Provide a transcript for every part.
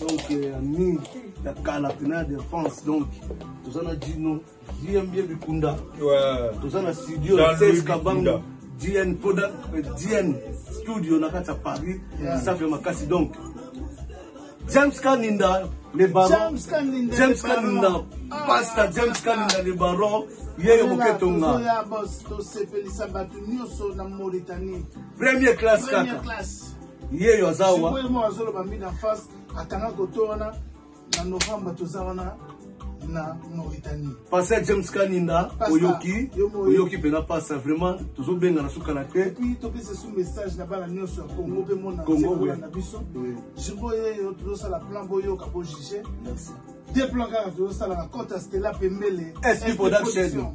donc euh, ami ya kala pena ya défense donc toza na dino dmb bikunda toza na studio ses kabanga dn poda euh, dn studio na kati ya paris safi ya makasi donc james kaninda le baron james kaninda ah. pasta james kaninda le baron yeyo moketonga tosepelisa bato nyonso na mauritanie premier classe kaka yeyo aza wa sikoyo mo azoloba mina face atanga koto wana na novembre toza wana na mauritanie pasa james kaninda oyoki oyoki mpena pasa vraiment tozobengana sukala te epuis topesa esu message na bana nyonso ya congo mpe monana na biso jibo yeyo tozosala plan boyoka bojuge de plan kaka tozosala na cote ya stela pembele sp production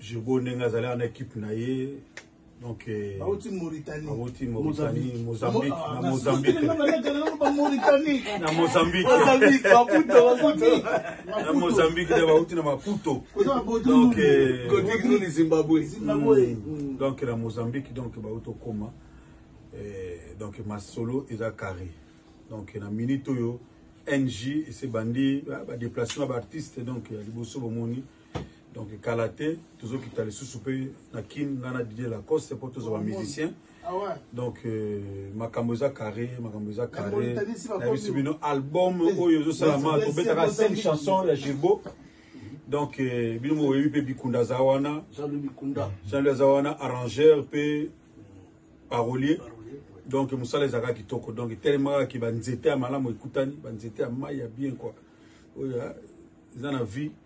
Jogo ndenge azalaka na equipe na ye donc eh, bauti Mauritanie bauti Mauritanie Mozambique ah, na Mozambique na Mauritanie na Mozambique Mozambique Maputo Mozambique na Mozambique nde bauti na Maputo donc eh, Cotignou ni Zimbabwe Zimbabwe hmm. hmm. donc na Mozambique donc bauti okoma eh, donc masolo eza carré donc na minute oyo NJ ese bandi ba déplacement ba artiste donc ya liboso bomoni donc kala te tozokita lisusu mpe na kin ngai na didie lacoste mpo tozwa bamusicien ah donc euh, makambo eza carré makambo eza carré nayebisi bino album eh, oyo ezosalama tobetaka 5 chanson ya gilbo donc euh, bino moyebi mpe bikunda aza wana jean-louis aza wana arrangeur mpe parolier donc mosala ezalaka kitoko donc etelemaka ke banzete ya malamu ekutani banzete ya mai ya bien kua oyo eza na vie